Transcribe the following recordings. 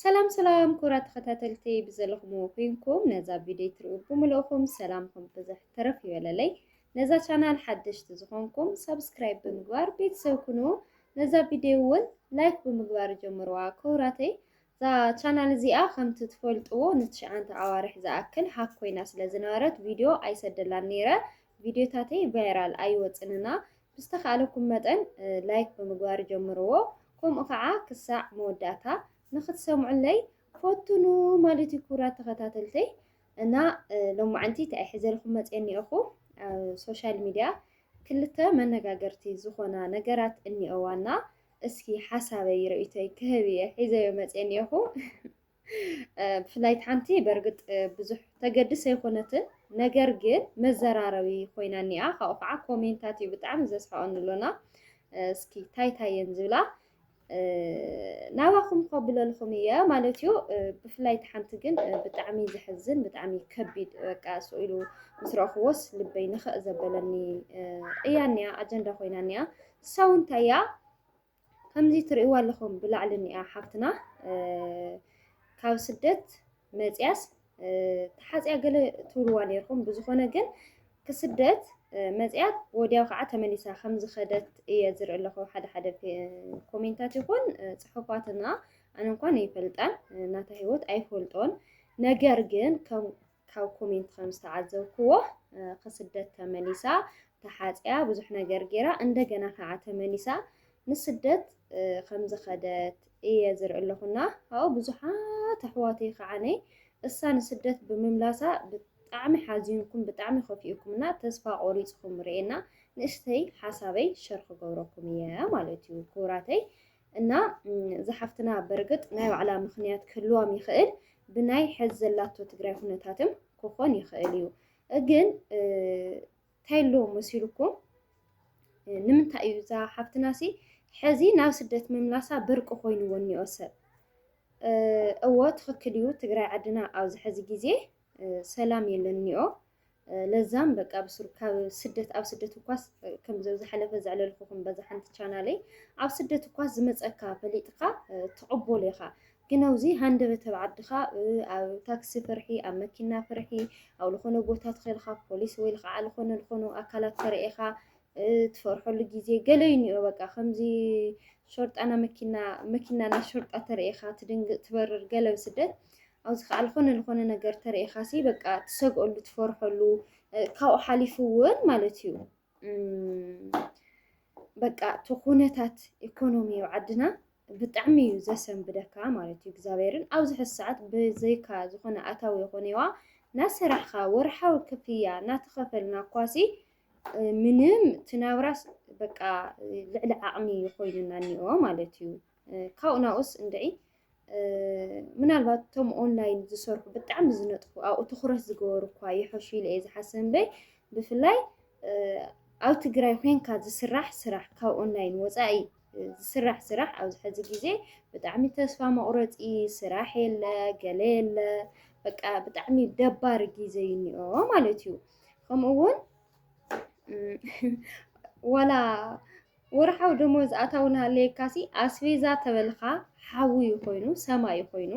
ሰላም ሰላም ክቡራት ተኸታተልቲ ብዘለኹምዎ ኮይንኩም ነዛ ቪድዮ ትሪኡ ብምልእኹም ሰላምኩም ብዝሕ ተረፍ ይበለለይ። ነዛ ቻናል ሓደሽቲ ዝኾንኩም ሳብስክራይብ ብምግባር ቤተሰብ ኩኑ። ነዛ ቪድዮ እውን ላይክ ብምግባር ጀምርዋ ክቡራተይ። እዛ ቻናል እዚኣ ከምቲ ትፈልጥዎ ንትሽዓንተ ኣዋርሕ ዝኣክል ሃክ ኮይና ስለ ዝነበረት ቪድዮ ኣይሰደላን ነይረ። ቪድዮታተይ ቫይራል ኣይወፅንና ብዝተኻእለኩም መጠን ላይክ ብምግባር ጀምርዎ ከምኡ ከዓ ክሳዕ መወዳእታ ንክትሰምዑለይ ፈትኑ ማለት እዩ ክቡራት ተኸታተልተይ እና ሎማዓንቲ እንታይ ሒዘልኩም መፅየ እኒኦኹ ኣብ ሶሻል ሚድያ ክልተ መነጋገርቲ ዝኾና ነገራት እኒኦዋና እስኪ ሓሳበይ ርእይቶይ ክህብ እየ ሒዘዮ መፅየ እኒኦኹ ብፍላይ እቲ ሓንቲ በርግጥ ብዙሕ ተገድስ ኣይኮነትን ነገር ግን መዘራረቢ ኮይና እኒኣ ካብኡ ከዓ ኮሜንታት እዩ ብጣዕሚ ዘስሕቐኒ ኣሎና እስኪ እንታይ እንታይ እየን ዝብላ ናባኹም ከብለልኹም እየ ማለት እዩ ብፍላይ እቲ ሓንቲ ግን ብጣዕሚ ዘሕዝን ብጣዕሚ ከቢድ በቃ ስኢሉ ምስ ረእኽዎስ ልበይ ንኽእ ዘበለኒ እያ እኒኣ ኣጀንዳ ኮይና እኒኣ ንሳ እውን እንታይ እያ ከምዚ ትርእይዋ ኣለኹም ብላዕሊ እኒኣ ሓፍትና ካብ ስደት መፅያስ ተሓፅያ ገለ ትብልዋ ነይርኩም ብዝኾነ ግን ክስደት መፅያ ወዲያው ከዓ ተመሊሳ ከም ዝኸደት እየ ዝርኢ ኣለኹ ሓደ ሓደ ኮሜንታት ይኹን ፅሑፋትና ኣነ እንኳን ይፈልጣን ናታ ሂወት ኣይፈልጦን ነገር ግን ካብ ኮሜንት ከም ዝተዓዘብክዎ ክስደት ተመሊሳ ተሓፅያ ብዙሕ ነገር ገይራ እንደገና ከዓ ተመሊሳ ንስደት ከም ዝኸደት እየ ዝርኢ ኣለኹና ኣብኡ ብዙሓት ኣሕዋተይ ከዓ ነይ እሳ ንስደት ብምምላሳ ብጣዕሚ ሓዚንኩም ብጣዕሚ ከፊኡኩም እና ተስፋ ቆሪፅኩም ርኤና ንእሽተይ ሓሳበይ ሸር ክገብረኩም እየ ማለት እዩ ክቡራተይ እና እዛ ሓፍትና በርግጥ ናይ ባዕላ ምኽንያት ክህልዋም ይኽእል ብናይ ሐዚ ዘላቶ ትግራይ ኩነታትም ክኾን ይኽእል እዩ ግን እንታይ ኣሎ መሲሉኩም ንምንታይ እዩ እዛ ሓፍትና ሲ ሕዚ ናብ ስደት ምምላሳ ብርቂ ኮይኑዎ እኒኦ ሰብ እዎ ትኽክል እዩ ትግራይ ዓድና ኣብዚ ሕዚ ግዜ ሰላም የለኒኦ ለዛም በቃ ብስሩ ካብ ስደት ኣብ ስደት እኳስ ከምዚ ዝሓለፈ ዘዕለልኩኹም በዛ ሓንቲ ቻናለይ ኣብ ስደት እኳስ ዝመፀካ ፈሊጥካ ትቕበሎ ኢኻ ግን ኣብዚ ሃንደበት ኣብ ዓድኻ ኣብ ታክሲ ፍርሒ ኣብ መኪና ፍርሒ ኣብ ዝኾነ ቦታ ትኸልካ ፖሊስ ወይ ልክዓ ዝኾነ ዝኾኑ ኣካላት ተርእኻ ትፈርሐሉ ግዜ ገለ እዩ እኒኦ በቃ ከምዚ ሾርጣና መኪና መኪናና ሾርጣ ተርእኻ ትድንግጥ ትበርር ገለ ስደት ኣብዚ ከኣ ልኾነ ልኾነ ነገር ተሪኢኻሲ በቃ ትሰግኦሉ ትፈርሖሉ ካብኡ ሓሊፉ እውን ማለት እዩ በቃ እቲ ኩነታት ኢኮኖሚ ዓድና ብጣዕሚ እዩ ዘሰንብደካ ማለት እዩ እግዚኣብሔርን ኣብዚ ሕዚ ሰዓት ብዘይካ ዝኾነ ኣታዊ ይኾነዋ ናሰራሕኻ ወርሓዊ ክፍያ ናተኸፈልና ኳሲ ምንም ትናብራስ በቃ ልዕሊ ዓቕሚ ኮይኑና እኒኦ ማለት እዩ። ካብኡ ናብኡስ እንድዒ ምናልባት እቶም ኦንላይን ዝሰርሑ ብጣዕሚ ዝነጥፉ ኣብኡ ትኩረት ዝገበሩ እኳ ይሐሹ ኢለ እየ ዝሓስብ እምበይ ብፍላይ ኣብ ትግራይ ኮንካ ዝስራሕ ስራሕ ካብ ኦንላይን ወፃኢ ዝስራሕ ስራሕ ኣብዚ ሕዚ ግዜ ብጣዕሚ ተስፋ መቁረፂ ስራሕ የለ ገለ የለ በቃ ብጣዕሚ ደባሪ ግዜ እዩ እኒኦ ማለት እዩ ከምኡ እውን ዋላ ወርሓዊ ደሞዝ ኣታዊ ናሃለየካሲ ኣስቤዛ ተበልኻ ሓዊ እዩ ኮይኑ ሰማይ እዩ ኮይኑ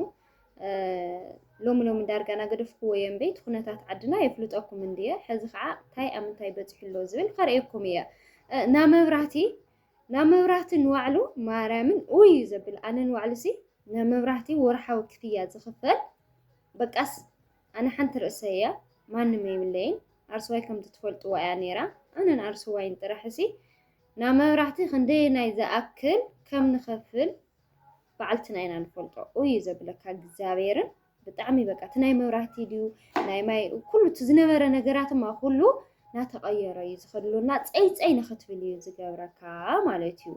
ሎሚ ሎሚ ዳርጋ ናገደፍክዎ እየ እምበይ እቲ ኩነታት ዓድና የፍልጠኩም እንድየ ሕዚ ከዓ እንታይ ኣብ ምንታይ በፂሑ ኣሎ ዝብል ከርእየኩም እየ ናብ መብራህቲ ናብ መብራህቲ ንዋዕሉ ማርያምን ኡይ እዩ ዘብል ኣነ ንዋዕሉ ሲ ናብ መብራህቲ ወርሓዊ ክፍያ ዝኽፈል በቃስ ኣነ ሓንቲ ርእሰይ እያ ማንም የብለይን ኣርሱዋይ ከምቲ ትፈልጥዋ እያ ነይራ ኣነን ኣርሱዋይን ጥራሕ እሲ ናብ መብራህቲ ክንደየናይ ዝኣክል ከም ንኸፍል በዓልትና ኢና ንፈልጦ እዩ ዘብለካ እግዚኣብሔርን ብጣዕሚ በቃ እቲ ናይ መብራህቲ ድዩ ናይ ማይ ኩሉ እቲ ዝነበረ ነገራትማ ኩሉ ናተቐየረ እዩ ዝኸድሉና ፀይፀይ ንኽትብል እዩ ዝገብረካ ማለት እዩ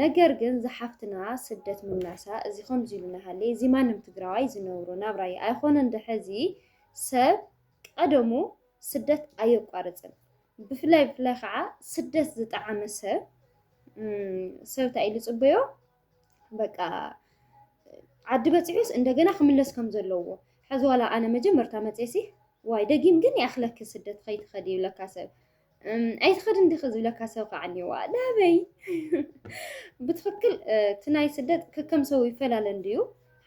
ነገር ግን ዝሓፍትና ስደት ምምላሳ እዚ ከምዚ ኢሉ ናሃለ እዚ ማንም ትግራዋይ ዝነብሮ ናብራ እዩ ኣይኮነን ድሕዚ ሰብ ቀደሙ ስደት ኣየቋርፅን ብፍላይ ብፍላይ ከዓ ስደት ዝጠዓመ ሰብ ሰብ እንታይ ኢሉ ፅበዮ በቃ ዓዲ በፂሑስ እንደገና ክምለስ ከም ዘለዎ ሕዚ ዋላ ኣነ መጀመርታ መፅሲ ዋይ ደጊም ግን ይኣኽለኪ ስደት ከይትኸዲ ይብለካ ሰብ ኣይትኸድን ዲኺ ዝብለካ ሰብ ከዓ እኒዋ ላበይ ብትኽክል እቲ ናይ ስደት ከከም ሰው ይፈላለ እንድዩ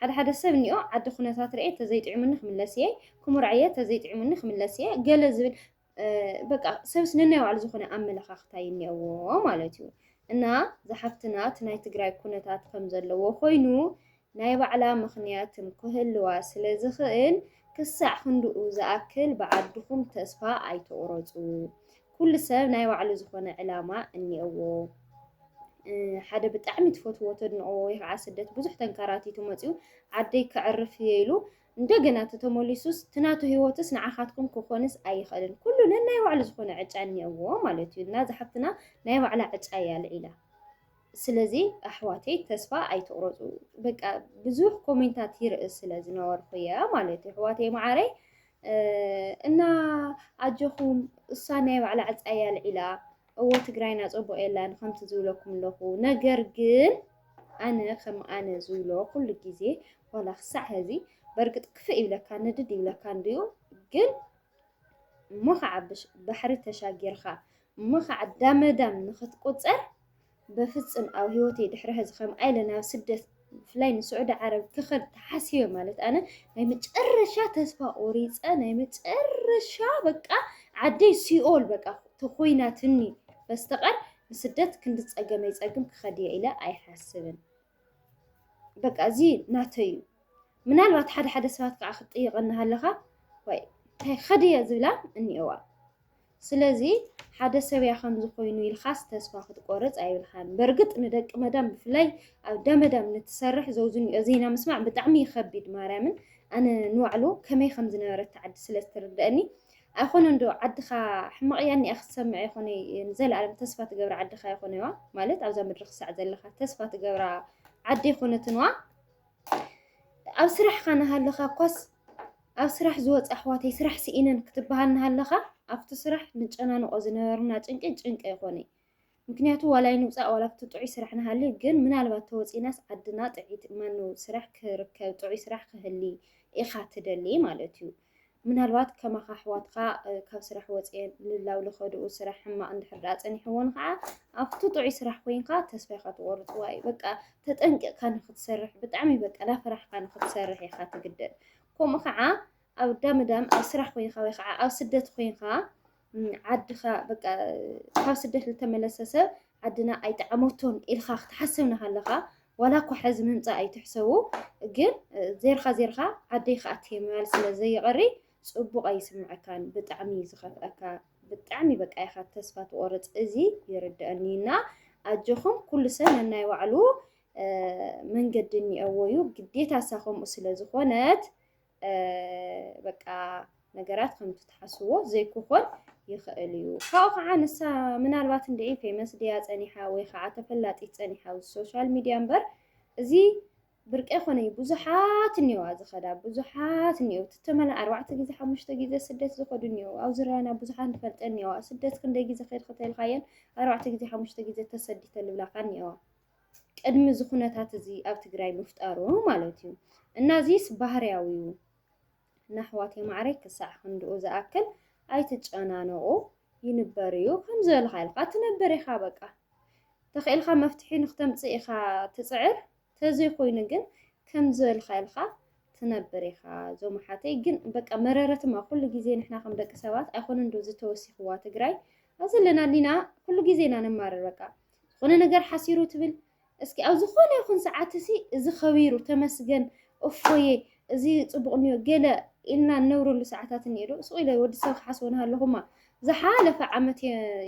ሓደ ሓደ ሰብ እኒኦ ዓዲ ኩነታት ርኤ ተዘይጥዕሙኒ ክምለስ እየ ክሙርዕ እየ ተዘይጥዕሙኒ ክምለስ እየ ገለ ዝብል በቃ ሰብስ ነናይ ባዕሉ ዝኾነ ኣመለኻኽታ እዩ እኒኦዎ ማለት እዩ እና ዝሓፍትና እቲ ናይ ትግራይ ኩነታት ከም ዘለዎ ኮይኑ ናይ ባዕላ ምኽንያትም ክህልዋ ስለ ዝኽእል ክሳዕ ክንድኡ ዝኣክል ብዓድኹም ተስፋ ኣይትቑረጹ። ኩሉ ሰብ ናይ ባዕሉ ዝኾነ ዕላማ እኒኦዎ። ሓደ ብጣዕሚ ትፈትዎ ተድንቕዎ ወይ ከዓ ስደት ብዙሕ ተንከራቲቱ መፂኡ ዓደይ ከዕርፍ እየ ኢሉ እንደገና ተተመሊሱስ ትናቱ ህይወትስ ንዓኻትኩም ክኾንስ ኣይኽእልን። ኩሉ ነናይ ባዕሉ ዝኾነ ዕጫ እኒኦዎ ማለት እዩ እና ዝሓፍትና ናይ ባዕላ ዕጫ እያ ልዒላ። ስለዚ ኣሕዋተይ ተስፋ ኣይትቑረፁ በቃ ብዙሕ ኮሜንታት ይርኢ ስለ ዝነበርኩ እየ ማለት እዩ ኣሕዋተይ መዓረይ እና ኣጆኹም እሳ ናይ ባዕላ ዕፃያ ኣልዒላ እዎ ትግራይና ፅቡቕ የላን ከምቲ ዝብለኩም ኣለኹ ነገር ግን ኣነ ከም ኣነ ዝብሎ ኩሉ ግዜ ዋላ ክሳዕ ሕዚ በርግጥ ክፍእ ይብለካ ንድድ ይብለካ እንድዩ ግን እሞ ኸዓ ባሕሪ ተሻጊርኻ እሞ ኸዓ ዳመዳም ንኽትቁፀር በፍፅም ኣብ ህይወተይ ድሕሪ ሕዚ ከምኣ ኢለ ናብ ስደት ብፍላይ ንስዑዲ ዓረብ ክኸድ ተሓሲበ ማለት ኣነ ናይ መጨረሻ ተስፋ ቆሪፀ ናይ መጨረሻ በቃ ዓደይ ሲኦል በቃ ተኮይናትኒ በስተቐር ንስደት ክንዲ ፀገመይ ፀግም ክኸድ እየ ኢለ ኣይሓስብን። በቃ እዚ ናተይ እዩ። ምናልባት ሓደ ሓደ ሰባት ከዓ ክትጥይቐኒ ሃለኻ ወይ እንታይ ከዲ እየ ዝብላ እኒኦዋ። ስለዚ ሓደ ሰብ እያ ከምዚ ኮይኑ ኢልካስ ተስፋ ክትቆርፅ ኣይብልካን። በእርግጥ ንደቂ መዳም ብፍላይ ኣብ እንዳ መዳም ንትሰርሕ ዘውዝንኦ ዜና ምስማዕ ብጣዕሚ ይኸቢድ ማርያምን ኣነ ንባዕሉ ከመይ ከም ዝነበረት ትዓዲ ስለ እትርደአኒ ኣይኮነን ዶ ዓድኻ ሕማቕ እያ እኒኣ ክትሰምዕ ይኾነ ንዘለኣለም ተስፋ ትገብራ ዓድኻ ይኾነዋ ማለት ኣብዛ ምድሪ ክሳዕ ዘለኻ ተስፋ ትገብራ ዓዲ ይኾነትንዋ ኣብ ስራሕኻ ናሃለኻ እኳስ ኣብ ስራሕ ዝወፅ ኣሕዋተይ ስራሕ ስኢነን ክትበሃል ናሃለኻ ኣብቲ ስራሕ ንጨናንቆ ዝነበርና ጭንቂ ጭንቂ ኣይኮነ ምክንያቱ ዋላ ኣይንውፃእ ዋላ ኣብቲ ጥዑይ ስራሕ ንሃሊ ግን ምናልባት ተወፂእናስ ዓድና ጥዕይቲ ማነው ስራሕ ክርከብ ጥዑይ ስራሕ ክህሊ ኢካ ትደሊ ማለት እዩ ምናልባት ከማኻ ኣሕዋትካ ካብ ስራሕ ወፅኤን ልላው ልኸድኡ ስራሕ ሕማቅ እንድሕር ድኣ ፀኒሕዎን ከዓ ኣብቲ ጥዑይ ስራሕ ኮይንካ ተስፋ ኢካ ትቆርፅዋ እዩ በቃ ተጠንቂቕካ ንክትሰርሕ ብጣዕሚ በቃ ላፍራሕካ ንክትሰርሕ ኢካ ትግደድ ከምኡ ከዓ ኣብ ዳምዳም ኣብ ስራሕ ኮይንካ ወይ ከዓ ኣብ ስደት ኮይንካ ዓድኻ በቃ ካብ ስደት ዝተመለሰ ሰብ ዓድና ኣይጠዓመቶን ኢልካ ክትሓስብ ናሃለኻ ዋላ እኳ ሕዚ ምምፃእ ኣይትሕሰቡ ግን ዜርካ ዜርካ ዓደይ ከዓ ትየምያል ስለ ዘይቐሪ ፅቡቕ ኣይስምዐካን ብጣዕሚ እዩ ዝኸፍአካ ብጣዕሚ በቃ ኢኻ ተስፋ ትቆርፅ እዚ ይርድአኒ እና ኣጆኹም ኩሉ ሰብ ነናይ ባዕሉ መንገዲ እኒአዎ እዩ ግዴታ እሳ ከምኡ ስለ ዝኾነት በቃ ነገራት ከምቲ ትሓስዎ ዘይክኾን ይኽእል እዩ። ካብኡ ከዓ ንሳ ምናልባት እንድዒ ፌመስ ድያ ፀኒሓ ወይ ከዓ ተፈላጢት ፀኒሓ ኣብዚ ሶሻል ሚድያ እምበር እዚ ብርቂ ኮነ እዩ። ብዙሓት እኒኦዋ ዝኸዳ ብዙሓት እኒኦው ትተመላ ኣርባዕተ ግዜ ሓሙሽተ ግዜ ስደት ዝኸዱ እኒኦው ኣብዚ ራያና ብዙሓት ንፈልጠ እኒኦዋ ስደት ክንደይ ግዜ ከይድ ከተልካየን ኣርባዕተ ግዜ ሓሙሽተ ግዜ ተሰዲተ ልብላካ እኒኦዋ ቅድሚ እዚ ኩነታት እዚ ኣብ ትግራይ ምፍጣሩ ማለት እዩ እና እዚስ ባህርያዊ እዩ እና ኣሕዋተይ ማዕረይ ክሳዕ ክንድኡ ዝኣክል ኣይትጨናነቑ ይንበር እዩ ከም ዝበልካ ኢልካ ትነበር ኢኻ በቃ ተኽኢልካ መፍትሒ ንክተምፅእ ኢኻ ትፅዕር ተዘይኮይኑ ግን ከም ዝበልካ ኢልካ ትነብር ኢኻ እዞም ሓተይ ግን በቃ መረረትማ ኩሉ ግዜ ንሕና ከም ደቂ ሰባት ኣይኮነን ዶ ዝተወሲኽዋ ትግራይ ኣብ ዘለና ሊና ኩሉ ግዜ ኢና ንማርር በቃ ዝኾነ ነገር ሓሲሩ ትብል እስኪ ኣብ ዝኾነ ይኹን ሰዓት እሲ እዚ ከቢሩ ተመስገን እፎየ እዚ ፅቡቅ እኒዮ ገለ ኢልና እነብረሉ ሰዓታት እኒኦ ዶ ስቕ ኢለ ወዲ ሰብ ክሓስቦ ናሃለኹማ ዝሓለፈ ዓመት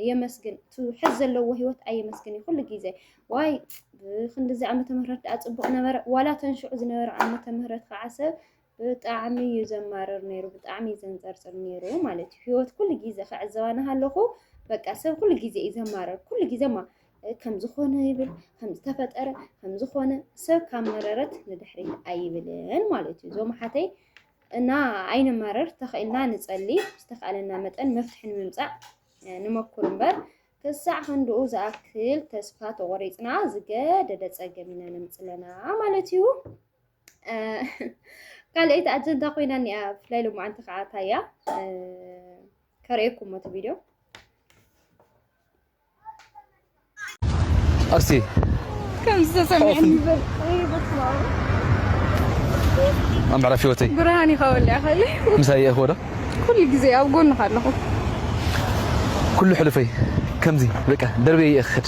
የመስግን እቲ ሕዝ ዘለዎ ሂወት ኣየመስግን እዩ ኩሉ ግዜ ዋይ ብክንዲዚ ዓመተ ምህረት ደኣ ፅቡቅ ነበረ ዋላ ተንሽዑ ዝነበረ ዓመተ ምህረት ከዓ ሰብ ብጣዕሚ እዩ ዘማርር ነይሩ፣ ብጣዕሚ እዩ ዘንፀርፅር ነይሩ ማለት እዩ። ህይወት ኩሉ ግዜ ክዕዘባ ናሃለኹ በቃ ሰብ ኩሉ ግዜ እዩ ዘማርር፣ ኩሉ ግዜ ማ ከምዝኾነ ይብል ከምዝተፈጠረ ከምዝኾነ ሰብ ካብ መረረት ንድሕሪት ኣይብልን ማለት እዩ። እዞም ሓተይ እና ኣይንማረር፣ ተኽኢልና ንፀሊ፣ ዝተኽኣለና መጠን መፍትሒ ንምምፃእ ንመኩር እምበር ክሳዕ ክንድኡ ዝኣክል ተስፋ ተቖሪፅና ዝገደደ ፀገም ኢና ነምፅለና ማለት እዩ። ካልኣይቲ ኣጀንዳ ኮይና እኒኣ ብፍላይ ሎማዓንቲ ከዓ ታያ ከርእየኩም እቲ ቪድዮ እስቲ ከምዚ ተሰሚዕኒ ይበል ኣብ ምዕራፍ ህይወተይ ብርሃን ኢኻ ወሊያ ኸሊ ምሳይ እየ ክወዶ ኩሉ ግዜ ኣብ ጎንኻ ኣለኹ ኩሉ ሕሉፈይ ከምዚ በቃ ደርበየ እየ ክኸድ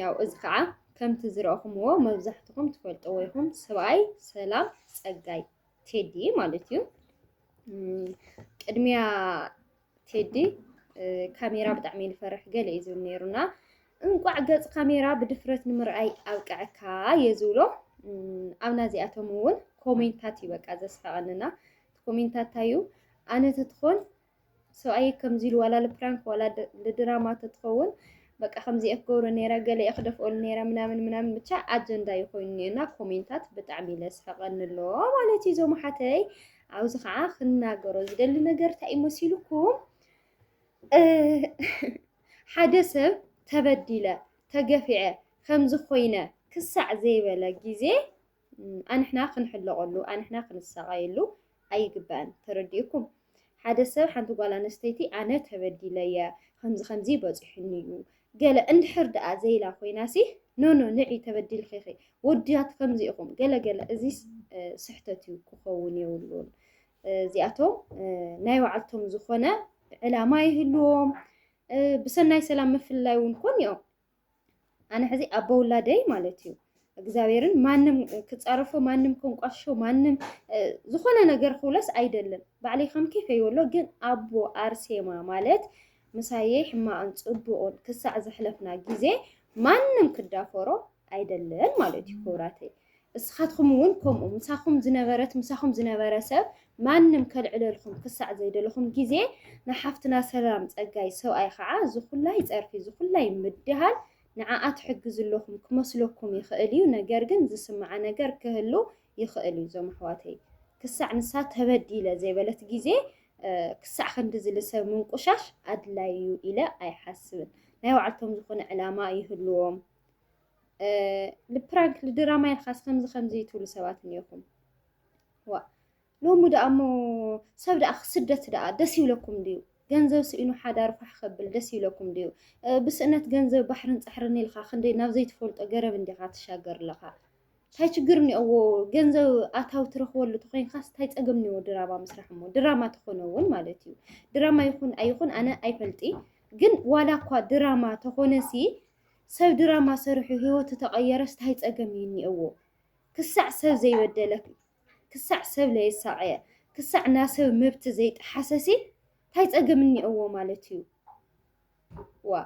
ያው እዚ ከዓ ከምቲ ዝረእኹምዎ መብዛሕትኹም ትፈልጥዎ ይኹም ሰብኣይ ሰላም ፀጋይ ቴዲ ማለት እዩ ቅድሚያ ቴዲ ካሜራ ብጣዕሚ ዝፈርሕ ገለ እዩ ዝብል ነይሩና እንቋዕ ገፅ ካሜራ ብድፍረት ንምርኣይ ኣብቅዐካ እየ ዝብሎ ኣብ ናዚኣቶም እውን ኮሜንታት እዩ በቃ ዘስሕቐንና ኮሜንታት እዩ ኣነ ተትኾን ሰብኣየይ ከምዚ ኢሉ ዋላ ልፕራንክ ዋላ ልድራማ ተትኸውን በቃ ከምዚኣ ክገብሮ ነይረ ገለየ ክደፍኦሉ ነይረ ምናምን ምናምን ብቻ ኣጀንዳ እዩ ኮይኑ ነና ኮሜንታት ብጣዕሚ ለስሕቐኒ ኣሎ ማለት እዩ ዞም ሓተይ ኣብዚ ከዓ ክናገሮ ዝደሊ ነገር እንታይ እዩ መሲልኩም ሓደ ሰብ ተበዲለ ተገፊዐ ከምዚ ኮይነ ክሳዕ ዘይበለ ግዜ ኣንሕና ክንሕለቐሉ ኣንሕና ክንሳቐየሉ ኣይግባእን ተረዲኡኩም ሓደ ሰብ ሓንቲ ጓል ኣነስተይቲ ኣነ ተበዲለየ ከምዚ ከምዚ በጺሑኒ እዩ ገለ እንድሕር ደኣ ዘይላ ኮይናሲ ኖኖ ንዒ ተበዲልኺ ኢኺ ወድያት ከምዚ ኢኹም ገለ ገለ እዚ ስሕተት እዩ ክኸውን የብሉን እዚኣቶም ናይ ባዕልቶም ዝኾነ ዕላማ ይህልዎም ብሰናይ ሰላም ምፍልላይ እውን ኮን እዮም ኣነ ሕዚ ኣቦ ውላደይ ማለት እዩ እግዚኣብሔርን ማንም ክፃረፎ ማንም ከንቋሾ ማንም ዝኾነ ነገር ክብለስ ኣይደልን ባዕለይ ከም ኬፍ ይበሎ ግን ኣቦ ኣርሴማ ማለት ምሳየይ ሕማቕን ፅቡቕን ክሳዕ ዘሕለፍና ግዜ ማንም ክዳፈሮ ኣይደልን ማለት እዩ ክብራተይ እስኻትኹም እውን ከምኡ ምሳኹም ዝነበረት ምሳኹም ዝነበረ ሰብ ማንም ከልዕለልኹም ክሳዕ ዘይደለኹም ግዜ ንሓፍትና ሰላም ጸጋይ ሰብኣይ ኸዓ ዝኹላይ ጸርፊ ዝኹላይ ምድሃል ንዓኣ ትሕግዙ ኣለኹም ክመስለኩም ይኽእል እዩ ነገር ግን ዝስምዓ ነገር ክህሉ ይኽእል እዩ እዞም ኣሕዋተይ ክሳዕ ንሳ ተበዲለ ዘይበለት ግዜ ክሳዕ ክንዲ ዝልሰብ ምንቁሻሽ ኣድላይ እዩ ኢለ ኣይሓስብን ናይ ባዕልቶም ዝኾነ ዕላማ ይህልዎም ልፕራንክ ልድራማ ኢልካስ ከምዚ ከምዚ ትብሉ ሰባት እኒኦኹም ዋ ሎሚ ደኣ እሞ ሰብ ደኣ ስደት ደኣ ደስ ይብለኩም ድዩ ገንዘብ ስኢኑ ሓዳር ፋሕ ከብል ደስ ይብለኩም ድዩ ብስእነት ገንዘብ ባሕርን ፃሕርን ኢልካ ክንደይ ናብ ዘይትፈልጦ ገረብ እንዲኻ ትሻገር ኣለኻ እንታይ ችግር እኒኦዎ ገንዘብ ኣታዊ ትረኽበሉ ተኮይንካስ እንታይ ፀገም እኒዎ ድራማ ምስራሕ እሞ ድራማ ተኾነ እውን ማለት እዩ ድራማ ይኹን ኣይኹን ኣነ ኣይፈልጢ ግን ዋላ እኳ ድራማ ተኾነ ሲ ሰብ ድራማ ሰሪሑ ሂወቱ ተቀየረስ ታይ ፀገም እዩ እኒኤዎ ክሳዕ ሰብ ዘይበደለ ክሳዕ ሰብ ለየሳቀየ ክሳዕ ናሰብ መብት ዘይጠሓሰሲ ታይ ፀገም እኒኤዎ ማለት እዩ ዋ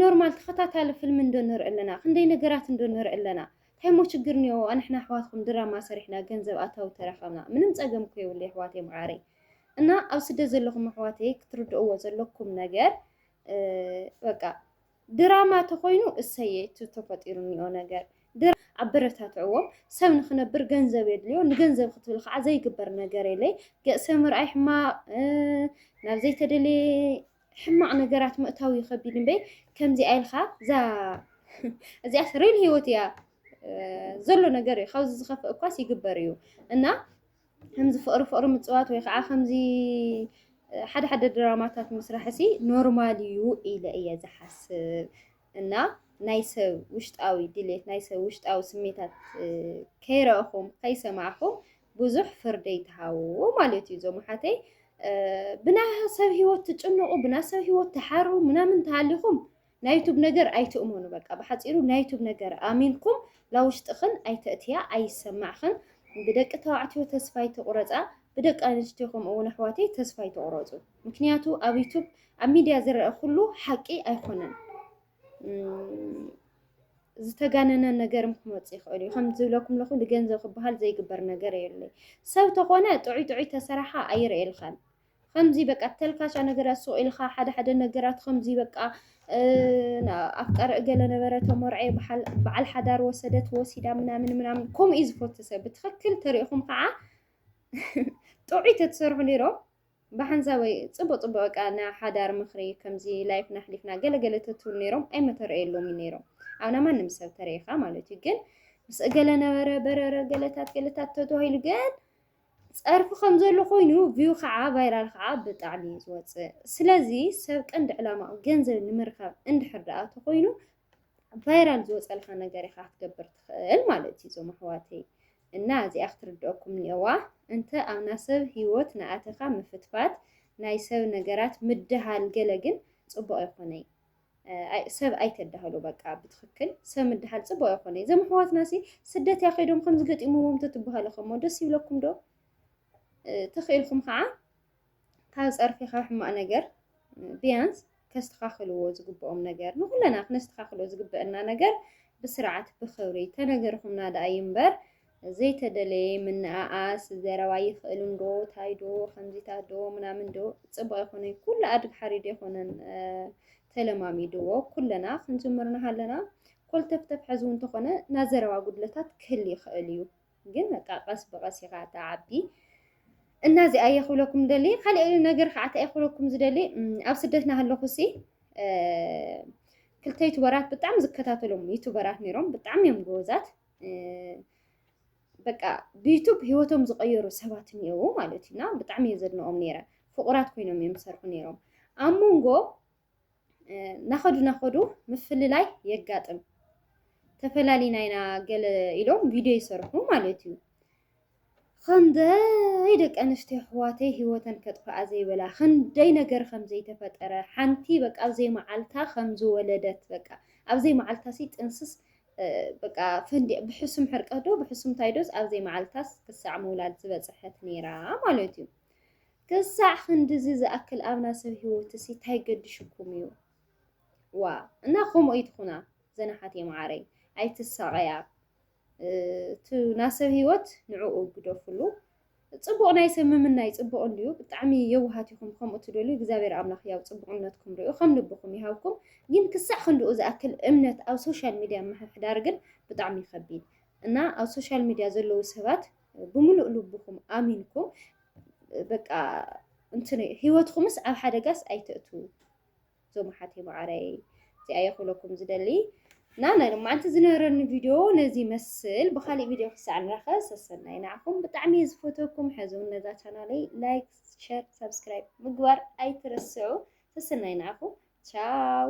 ኖርማል ተከታታሊ ፍልሚ እንዶ ንርኢ ኣለና ክንደይ ነገራት እንዶ ንርኢ ኣለና ታይ ሞ ችግር እኒኤዎ ኣንሕና ኣሕዋትኩም ድራማ ሰሪሕና ገንዘብ ኣታዊ ተረከብና ምንም ፀገም እኮ የብሉ ኣሕዋተይ መዓረይ እና ኣብ ስደት ዘለኹም ኣሕዋተይ ክትርድእዎ ዘለኩም ነገር በቃ ድራማ ተኾይኑ እሰየ እቲ ተፈጢሩ እኒኦ ነገር ድራማ ኣበረታትዕዎም ሰብ ንክነብር ገንዘብ የድልዮ ንገንዘብ ክትብል ከዓ ዘይግበር ነገር የለይ ገእሰ ምርኣይ ሕማቅ ናብ ዘይተደለየ ሕማቅ ነገራት ምእታው ይኸቢድ እምበይ ከምዚኣ ኢልካ እዛ እዚኣስ ሪል ህይወት እያ ዘሎ ነገር እዩ ካብዚ ዝኸፍእ እኳስ ይግበር እዩ እና ከምዚ ፍቕሪ ፍቕሪ ምጽዋት ወይ ከዓ ከምዚ ሓደ ሓደ ድራማታት ምስራሕሲ ኖርማል እዩ ኢለ እየ ዝሓስብ እና ናይ ሰብ ውሽጣዊ ድሌት ናይ ሰብ ውሽጣዊ ስሜታት ከይረእኹም ከይሰማዕኹም ብዙሕ ፍርዲ ይትሃውዎ ማለት እዩ። እዞም ሓተይ ብና ሰብ ህይወት ትጭንቑ ብና ሰብ ህይወት ትሓሩ ምናምን ተሃሊኹም ናይ ዩቱብ ነገር ኣይትእመኑ በቃ ብሓጺሩ ናይ ዩቱብ ነገር ኣሚንኩም ላውሽጥኽን ኣይተእትያ ኣይሰማዕኽን ብደቂ ተባዕትዮ ተስፋ ኣይትቑረጻ ብደቂ ኣንስትዮ ከምኡ እውን ኣሕዋተይ ተስፋ ኣይትቑረጹ ምክንያቱ ኣብ ዩቱብ ኣብ ሚድያ ዝረአ ኩሉ ሓቂ ኣይኮነን ዝተጋነነ ነገር ክመፅ ይኽእል እዩ ከም ዝብለኩም ለኹ ንገንዘብ ክበሃል ዘይግበር ነገር የለ ሰብ ተኾነ ጥዑይ ጥዑይ ተሰራሓ ኣይርእየልካን ኸምዚ በቃ ተልካሻ ነገራት ሱቕ ኢልኻ ሓደ ሓደ ነገራት ኸምዚ በቃ ኣፍቃሪ እገለ ነበረ ተመርዐ በዓል ሓዳር ወሰደት ወሲዳ ምናምን ምናምን ከምኡ እዩ ዝፈቱ ሰብ ብትኽክል ተሪእኹም ከዓ ጥዑይ ተትሰርሑ ነይሮ ብሓንሳበይ ፅቡቅ ፅቡቅ በቃ ናይ ሓዳር ምኽሪ ከምዚ ላይፍ ናሕሊፍና ገለገለ ተትብሉ ነይሮም ኣይመተረየሎም እዩ ነይሮም ኣብ ናይ ማንም ሰብ ተሪኢኻ ማለት እዩ ግን ምስ እገለ ነበረ በረረ ገለታት ገለታት ተተባሂሉ ግን ጸርፊ ከም ዘሎ ኮይኑ ቪው ከዓ ቫይራል ከዓ ብጣዕሚ እዩ ዝወፅእ ስለዚ ሰብ ቀንዲ ዕላማኡ ገንዘብ ንምርካብ እንድሕር ደኣ ተኮይኑ ቫይራል ዝወፀልካ ነገር ኢኻ ክትገብር ትኽእል ማለት እዩ እዞም ኣሕዋተይ እና እዚኣ ክትርድአኩም እኒኦዋ እንተ ኣብ ናይ ሰብ ሂወት ንኣተኻ ምፍትፋት ናይ ሰብ ነገራት ምድሃል ገለ ግን ፅቡቅ ኣይኮነይ ሰብ ኣይተዳህሉ በቃ ብትክክል ሰብ ምድሃል ፅቡቅ ኣይኮነ እዞም ኣሕዋትና ሲ ስደት እያ ከይዶም ከምዚ ገጢሞዎም ተትበሃሉ ከሞ ደስ ይብለኩም ዶ ተኽኢልኩም ከዓ ካብ ፀርፊ ካብ ሕማቅ ነገር ቢያንስ ከስተካክልዎ ዝግብኦም ነገር ንኩለና ክነስተካክሎ ዝግበአና ነገር ብስርዓት ብክብሪ ተነገርኩምና ደኣ ይንበር እምበር ዘይተደለየ ምንኣኣስ ዘረባ ይኽእል እንዶ ታይ ዶ ከምዚታት ዶ ምናምን ዶ ፅቡቅ ኣይኮነን። ኩሉ ኣድግ ሓሪድ ኣይኮነን ተለማሚድዎ ኩለና ክንጅምር ንሃለና ኮልተፍተፍ ሕዚ እውን ተኾነ ናይ ዘረባ ጉድለታት ክህል ይኽእል እዩ። ግን በቃ ቀስ ብቀስ ኢኻ ተዓቢ እና እዚኣ እየ ክብለኩም ደሊ ካልእ ነገር ከዓ እንታይ ክብለኩም ዝደሊ ኣብ ስደት ናሃለኹ ሲ ክልተ ዩቱበራት ብጣዕሚ ዝከታተሎም ዩቱበራት ነይሮም ብጣዕሚ እዮም ጎበዛት በቃ ብዩቱብ ሂወቶም ዝቐየሩ ሰባት እኒአው ማለት እዩና ብጣዕሚ እየ ዘድንቖም ነይረ ፍቑራት ኮይኖም እዮም ዝሰርሑ ነይሮም ኣብ መንጎ ናኸዱ ናኸዱ ምፍልላይ የጋጥም ተፈላሊና ኢና ገለ ኢሎም ቪድዮ ይሰርሑ ማለት እዩ ኽንደይ ደቂ ኣንስትዮ ኣሕዋተይ ሂወተን ከጥፍኣ ዘይበላ ኽንደይ ነገር ኸም ዘይተፈጠረ ሓንቲ በቃ ኣብ ዘይመዓልታ ኸም ዝወለደት በቃ ኣብ ዘይመዓልታሲ ጥንስስ በቃ ፈንዲ ብሕሱም ሕርቀት ዶ ብሕሱም ታይዶስ ኣብ ዘይመዓልታስ ክሳዕ ምውላድ ዝበፅሐት ነይራ ማለት እዩ። ክሳዕ ክንድዚ ዝኣክል ኣብና ሰብ ሂወት እሲ ታይ ገድሽኩም እዩ ዋ እና ከምኡ ኣይትኹና ዘናሓት የመዓረይ ኣይትሳቐያ እቱ ናሰብ ህይወት ንዕኡ ግደፍሉ። ጽቡቕ ናይ ሰብ ምምናይ ጽቡቕ እንድዩ ብጣዕሚ የውሃት ኢኹም ከምኡ ትደልዩ እግዚኣብሔር ኣምላኽ ያው ጽቡቕነትኩም ሪኡ ከም ልብኹም ይሃብኩም ግን ክሳዕ ክንድኡ ዝኣክል እምነት ኣብ ሶሻል ሚድያ ምሕሕዳር ግን ብጣዕሚ ይኸቢድ እና ኣብ ሶሻል ሚድያ ዘለዉ ሰባት ብምሉእ ልብኹም ኣሚንኩም በቃ እንትን ህይወትኩምስ ኣብ ሓደጋስ ኣይተእትዉ እዞም ኣሓተይ መዓረይ እዚኣ እየ ክብለኩም ዝደሊ እና ናይ ሎማዓንቲ ዝነበረኒ ቪድዮ ነዚ ይመስል ብካሊእ ቪድዮ ክሳዕ ንራኸ ሰሰናይ ንዓኹም ብጣዕሚ እየ ዝፈትወኩም ሕዚ ነዛ ቻናለይ ላይክ ሸር ሳብስክራይብ ምግባር ኣይትረስዑ ሰሰናይ ንዓኹም ቻው